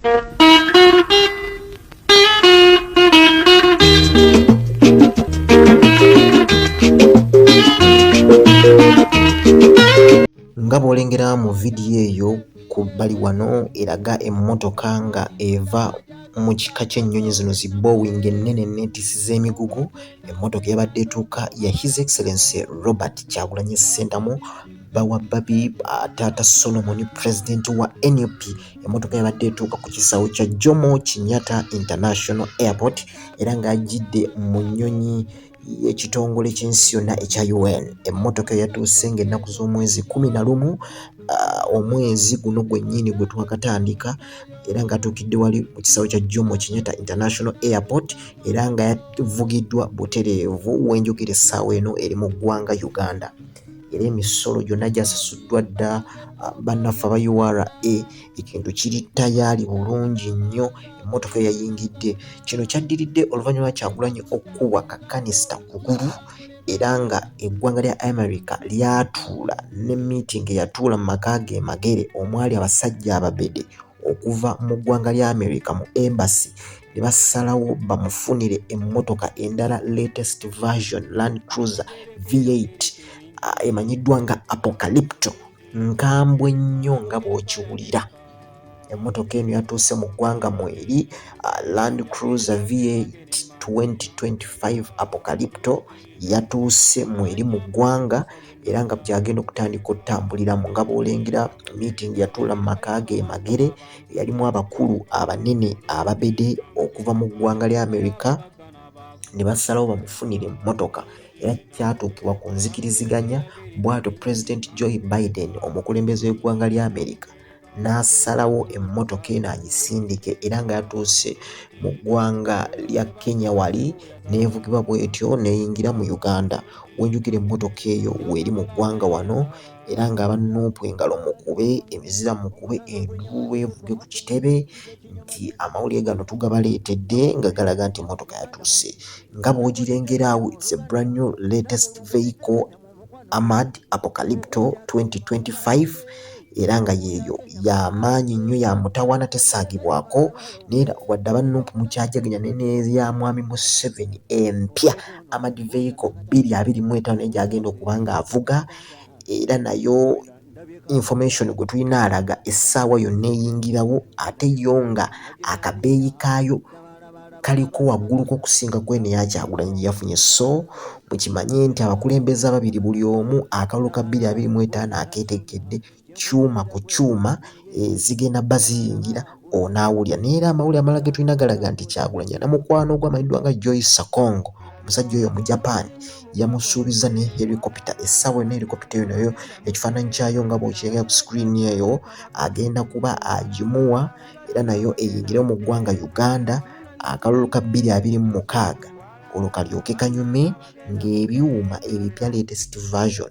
nga bwolengera mu vidiyo eyo ku bbali wano eraga emmotoka nga eva mu kika ky'ennyonyi zino zi Boeing ennene enneetissi z'emigugu emmotoka yabadde etuuka ya His Excellency Robert Kyagulanyi Ssentamu bba wa bbabi taata Solomon pulezidenti wa nup Emmotoka yabadde etuuka ku kisaawe kya Jomo Kenyatta International Airport era ng'ajjidde mu nnyonyi y'ekitongole ky'ensi yonna ekya UN. Emmotoka yatuuse ng'ennaku z'omwezi kkumi na lumu omwezi guno gwennyini gwe twakatandika era ng'atuukidde wali ku kisaawe kya Jomo Kenyatta International Airport era nga yavugiddwa butereevu. We njogera essaawa eno eri mu ggwanga Uganda. era emisolo gyonna gyasasuddwa dda ah, bannaffe aba ura ekintu kiri tayaali bulungi nnyo emmotoka eyayingidde kino kyaddiridde oluvannyuma kyagulanyi okukubwa kakanista kugulu era nga eggwanga lya america lyatuula ne meeting eyatuula mu maka ge magere omwali abasajja ababede okuva mu ggwanga lya America mu embassy ne basalawo bamufunire emmotoka endala latest version Land Cruiser V8 ah, emanyiddwa nga Apocalypto nkambwe nnyo nga bw'okiwulira. Emmotoka eno yatuuse mu ggwanga mweri ah, Land Cruiser V8 2025 Apocalypto yatuuse mu eri mu ggwanga era nga gy'agenda okutandika otutambuliramu nga bw'olengera miitingi yatuula mu maka ge e Magere yalimu abakulu abanene ababede okuva mu ggwanga lya Amerika ne basalawo bamufunire emmotoka era kyatuukibwa ku nzikiriziganya bw'atyo Pulezidenti Joe Biden omukulembeze w'eggwanga lya Amerika n'asalawo emmotoka eno agisindike era nga yatuuse mu ggwanga lya Kenya wali n'evugibwa bw'etyo n'eyingira mu Uganda wenjukira emmotoka eyo weeri mu ggwanga wano era nga aba Nuupu engalo mukube emizira mukube enduulu evuge ku kitebe nti amawulire gano tugabaleetedde nga galaga nti emmotoka yatuuse nga bw'ogirengera awo it's a brand new latest vehicle. Amad Apocalypto 2025 era nga yeeyo ya maanyi nnyo ya mutawaana tesaagibwako neera wadde aba nup mukyajaganya ne neya mwami Museveni empya Amad Vehicle 225 naye gy'agenda okuba ng'avuga era nayo information gwe tulina alaga essaawa yonna eyingirawo ate yo nga akabeeyi kaayo kaliko wagguluko okusinga kweno eyakyagulanyi gye yafunye so mukimanye nti abakulembeze ababiri buli omu akalulu ka bbiri abiri mu etaano akeetegkedde kyuma ku kyuma eh, zigenda baziyingira onaawulira naye era amawulire amalala ge tulina galaga nti kyagulanyi ana mukwano ogwo amanyiddwa nga joyce sakongo omusajja oyo mu japan yamusuubiza ne helicopita essaawa ena helicopita eyo nayo ekifaananyi kyayo nga bwokirengera ku screen eyo agenda kuba agimuwa era nayo eyingire mu ggwanga uganda akalulu ka bbiri abiri mu mukaaga olwo kalyoke kanyume ng'ebyuma ebipya latest version